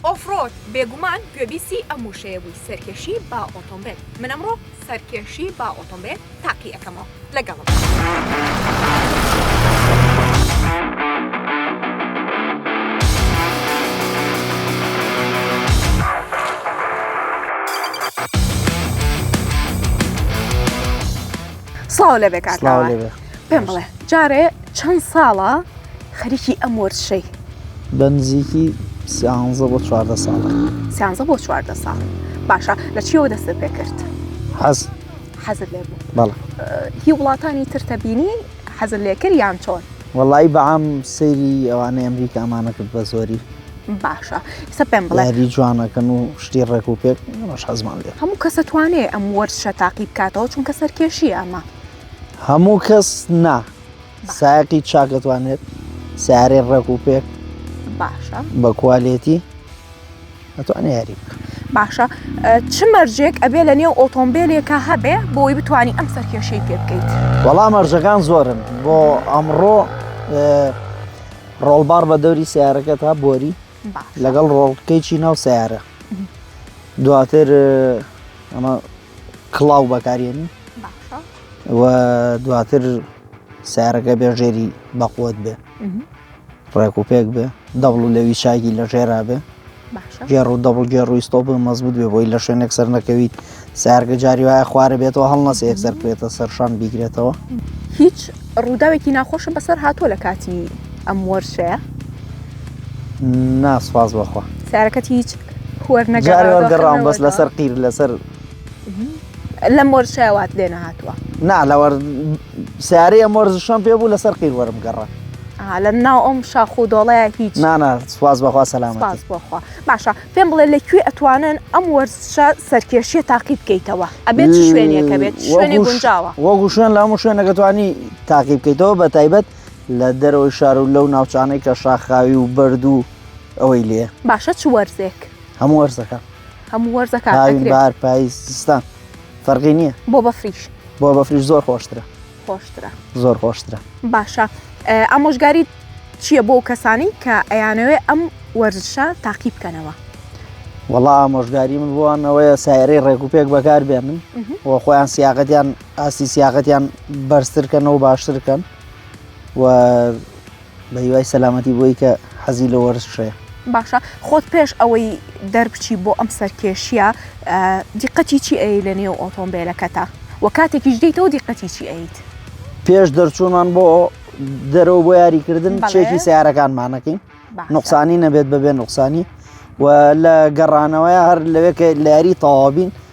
ئۆف ڕۆد بێگومان گوێبیستی ئەم وشەیە بووی سەرکێشی با ئۆتۆمبێل من ئەمڕۆ سەرکێشی با ئۆتۆمبێل تاقی ئەەکەمەوە لەگەڵم. سڵاو لەبێ کاکاوە پێم بڵێ جارێ چەند ساڵە؟ خەریکی ئەم وەرزشەی. بە نزیکی سیانزە بۆ چواردە ساڵە. سیانزە بۆ چواردە ساڵ باشە لە چیەوە دەستت پێ کرد حەز حەزت لێ بوو بەڵ هی وڵاتانی ترتە بینی حەزت لێ کرد یان چۆن وەڵی بەعام سەیری ئەوانەی ئەمریکا ئەمانە کرد بە زۆری باشە سە پێم بڵێری جوانەکەن و شتی ڕێک و پێک ڕش حەزمان لێ هەموو کەسە توانێ ئەم وەرشە تاقی بکاتەوە چونکە سەرکێشی ئەمە هەموو کەس نا سایقی چاک دەتوانێت سیارەی ڕێک و پێک باشە بە کوالێتی ئەتوانێ یاری بکە باشە چ مەرجێک ئەبێ لە نێو ئۆتۆمبیلێکە هەبێ بۆی بتانی ئەم سەرکێشەی پێ بکەیت وەڵام مەرجەکان زۆرن بۆ ئەمڕۆ ڕۆڵبار بە دەوری سیارەکە تا بۆری لەگەڵ ڕۆڵکەیکی ناو سیارە دواتر ئەمە کڵاو بەکارێنی و دواتر سارەکە بێ ژێری بەقوت بێ ڕێک و پێک بێ دەبڵ و لەوی چاگی لە ژێرا بێ گێڕ و دەبڵ گێڕ و ئیسۆپ مەزبوط بێ بۆی لە شوێنێک سەر نەکەویت سارگە جاری وایە خوارە بێتەوە هەڵنەسە یەک سەر بێتە سەرشان بیگرێتەوە هیچ ڕووداوێکی ناخۆشم بەسەر هاتووە لە کاتی ئەم وەرشەیە ناسپاس بەخوا سارەکەت هیچ جارێ وەرگەڕاوم بەس لەسەر قیر لەسەر لە مۆرشاوات لێ نەهاتووە نا لەوە سارەیە مۆرزشم پێ بوو لەسەر قیر وەرم گەڕە لە ناو ئەم شاخ و دۆڵەیە هیچ نانا سواز بەخوا سەلام بەخوا باشە پێم بڵێ لەکوێ ئەتوانن ئەم وەرزشە سەرکێشیە تاقی بکەیتەوە ئەبێت شوێنەکە بێت شوێنی گونجاوە وەگو شوێن لە هەموو شوێنەکەتوانی تاقی بکەیتەوە بە تایبەت لە دەرەوەی شار و لەو ناوچانەی کە شاخاوی و بەردوو ئەوەی لێ باشە چ وەرزێک هەموو وەرزەکە هەموو وەرزەکە بار پاییز زستان فەرقی نییە بۆ بەفریش بۆ بەفریش زۆر خۆشترە خۆشترە زۆر خۆشترە باشە ئامۆژگاری چییە بۆ کەسانی کە ئەیانەوێ ئەم وەرزشە تاقی بکەنەوە وەڵا ئامۆژگاری من بووانەوەیە سایرەی ڕێکوپێک بەکار بێنن و خۆیان سیاقەتیان ئاستی سیاقەتیان بەرزترکەنەوە باشترکەن و بە هیوای سەلامەتی بۆی کە حەزی لە وەرزشەیە. باشە خۆت پێش ئەوەی دەربچی بۆ ئەم سەرکێشیە دیقەتی چی ئەی لە نێو ئۆتۆمبیلەکەتە وە کاتێکیش دیتەوە دیقەتی چی ئەیت؟ پێش دەرچوونمان بۆ دەرەوە بۆ یاریکردن چێکی سیارەکانمانەکەین نقصانی نەبێت بەبێ نقصانی و لە گەڕانەوەی هەر لەوێ کە لە یاری تەوابین